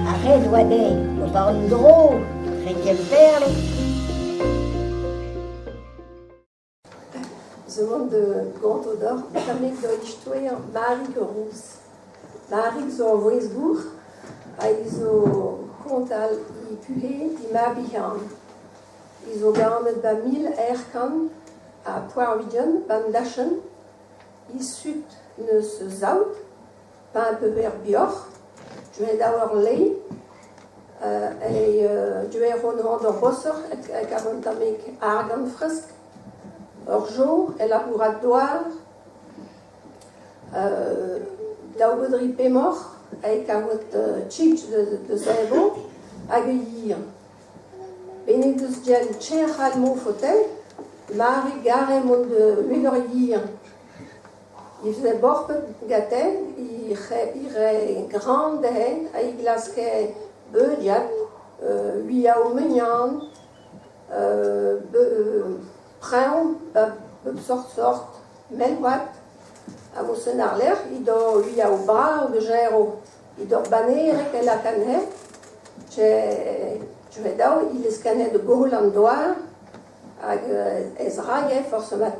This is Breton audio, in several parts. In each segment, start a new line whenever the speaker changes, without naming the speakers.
Ar re a oa dezhi o vont war-dro re Gemperle.
Zo oan da gont odoc'h tamek da istoer Marig Rouz. Marig zo ur vouezh-gour hag zo kontal he puhez he mab-bihan. He zo ganet ba mil eir kant ha poar-ugent ba'n dachenn isut neus saout, pa un peu er bioc'h, deuet da ur lei, e deuet hon d'ur bossoc'h e karont tamek argant fresk, ur jour e labourat douar, daou beudri pemoc'h, e kavot tchitch deus eñvo, hag e hir. Benn he deus dialet cher Raymond Fauteuil, mare garem hon meur a vihan. He veze borpet gaten, he rae gran dezhen ha he glaske beuriat uiañ o mignon, preñv bep seurt sort, mell-vat. Ha mosenn àr-lerc'h he do uiañ o barr da gerioù. It ur bannereg e lakaat he. C'hweh dao he leskan he da goll an douar hag ez raje forzh mat.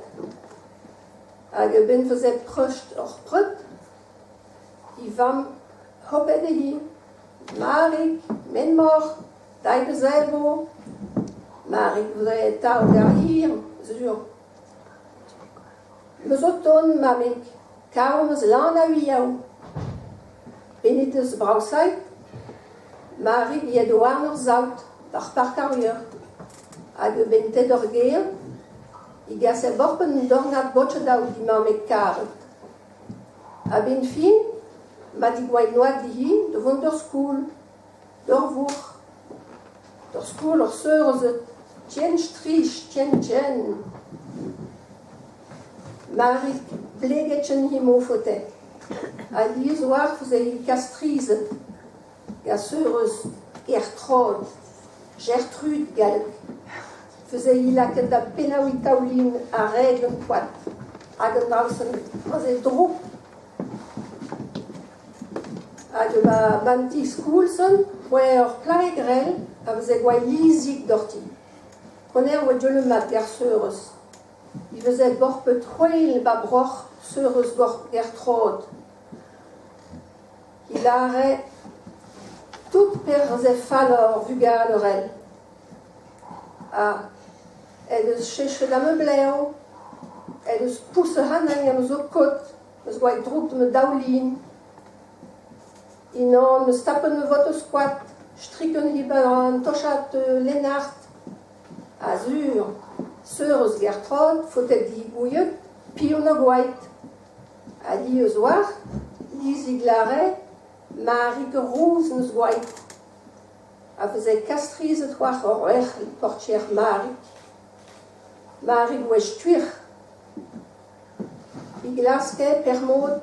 Hag a-benn fazeet treust hor preud, he vamm hopet he, Marig, Menmor, Dai da Zelvo, Marig voudrait atav garir, sur. Eus ho tont, mammig, kar am eus lan a-wiaou. Hennezh 'deus braosait ma ribilhed warn ur saout d'ar park ar Leur. Hag a-benn ted ur gêr e gasez boc'h un dornad botched-all dit mammig karet. A-benn fin, ma tigouay noazh dihi da vont d'ur skol. Ur vourc'h, ur skol, ur seur a zeu tien strich, tien tien. Marig pleget en he mofotell. Alies oalc'h ouzh he kastrized. Gasur eus Gertrod, Gertrud galleg, feuze hi lakaet da pennaouiñ taoulin ha reg an koad hag an alsenn, aze droug. Hag ma b'an tiskoulz on, oa ur plae grell a veze gwall izik doc'hti. Honnezh oa deulmat ger Seurez. He faezhe borped c'hwel ba broc'h Seurez Gertrod. He lâre tout perzh eo fallor vuganerel. Ha en deus chechet da ma blev, en deus pousset anezhi gant ho kod. 'Meus gwall droug ma daoulin. Unan 'meus tapet ma votoù-skoaz, striken he baran tochad Lennart. Azur, sur eus Gertrod, faotet he gouied, piv 'na gwaet? Ha hi eus war, Lizig Lare, Marig Rouz 'meus gwaet. A veze kastrizet c'hoazh hor erc'h e portier Marig. Marig wech-tuec'h. e glaske per-mod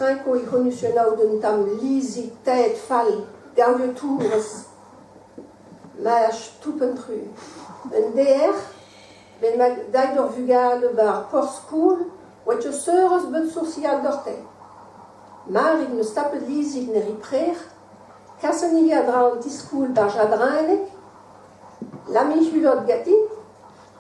renkoù e c'honusennoù d'un tamm lizhig-taet fall gallotourez laezh toupn-tru. Un deer bennak dait d'ur vugale war ar porzh-skol oa ur seurez bet soursial gante. Marit 'm eus tapet lizhig ne ri prec'h, kasen-hi a-dra an ti-skol barzh Jadrenig, Lami Hulot ganti.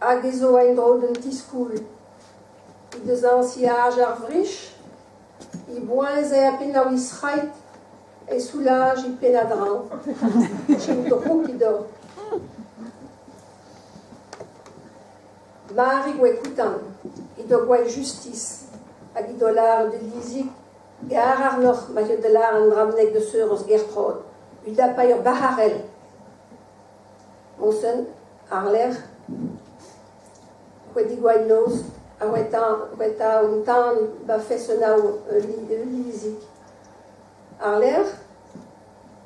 hag e zo en-dro d'un ti-skol. He deus añsiaj ar vrich, he boazher pennañ he zrailh, he soulaj he pennad-draoù. Chom drouk he doa. Mari oa koutant, he doa gwall justis hag he doa lâret d'he lizig gar àrnoc'h ma teu da lâret an dra bennak da seurez Gertrod, he dapay ur bac'harell. Moñsenn, àr-lerc'h C'hwedig-Gwaidnoz, a oa un tan ba Fessenau ul lizig. Àr-lerc'h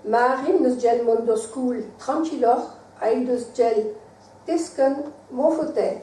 Marin 'neus gell mont d'ur skol trankiloc'h ha he deus gell teskenn mon faotais.